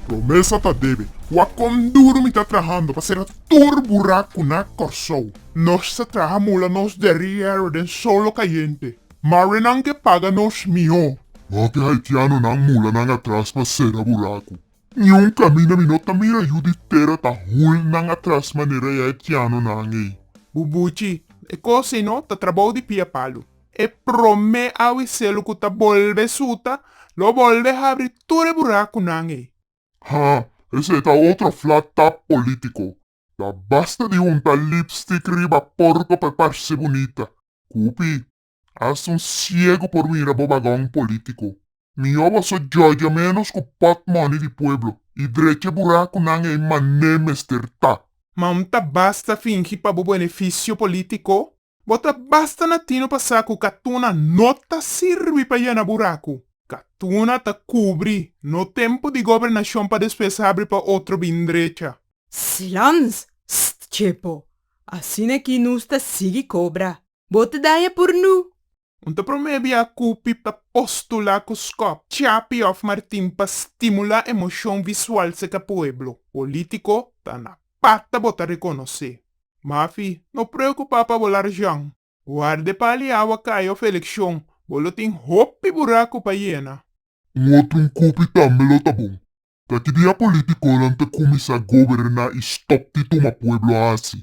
Promesa ta debe. Wak kon duru mi ta trahando pa sera tur burak ku na Kòrsou. Nos ta traha mula nos derièro den solo kayente. Marenan ke paga nos mihó. Hopi haitianonan mulanan a tras pa sera buraku. Niun caminda mi no ta mira yu di tera ta hul nan atras manera e aitiano nan ey. Bubuchi, e cos ey no ta trabou di pia palu. E prome awiselu cu ta bolbe suta lo bolbe habri tur e buracunan ey. Ha, esey ta otro flat tap politico. Ta basta di hunta lipstick riba porco pa e parce bunita. Cupi. Hasta un ciego por mira bo bagon politico. Mijo bo so jojo menos cu pot money di pueblo y drecha bura cu nan ey mané mester ta. Ma un ta basta fingi pa bo beneficio politico, bo ta basta natino pa sa cu katuna no ta sirbi pa yena buracu. Katuna ta cubri, no tempo di gobernacion pa despues habri pa otro bin drecha. Silans! St. Chepo, asina ki nos ta sigui cobra. Bo ta daña por nu. Un ta promé bia ku Pip ta postulá ku Skop, Chapi òf Martin pa stimulá emoshon visual serka pueblo. Polítiko ta na pata bo ta rekonosé. Mafi, no preokupá pa bo larjan. Warda e pali awa kai òf elekshon, bo lo tin hopi buraku pa yena. Un otro un kupi tambe lo ta bon. Ta ki dia polítikonan ta kuminsá goberná i stòp di tuma pueblo hasi.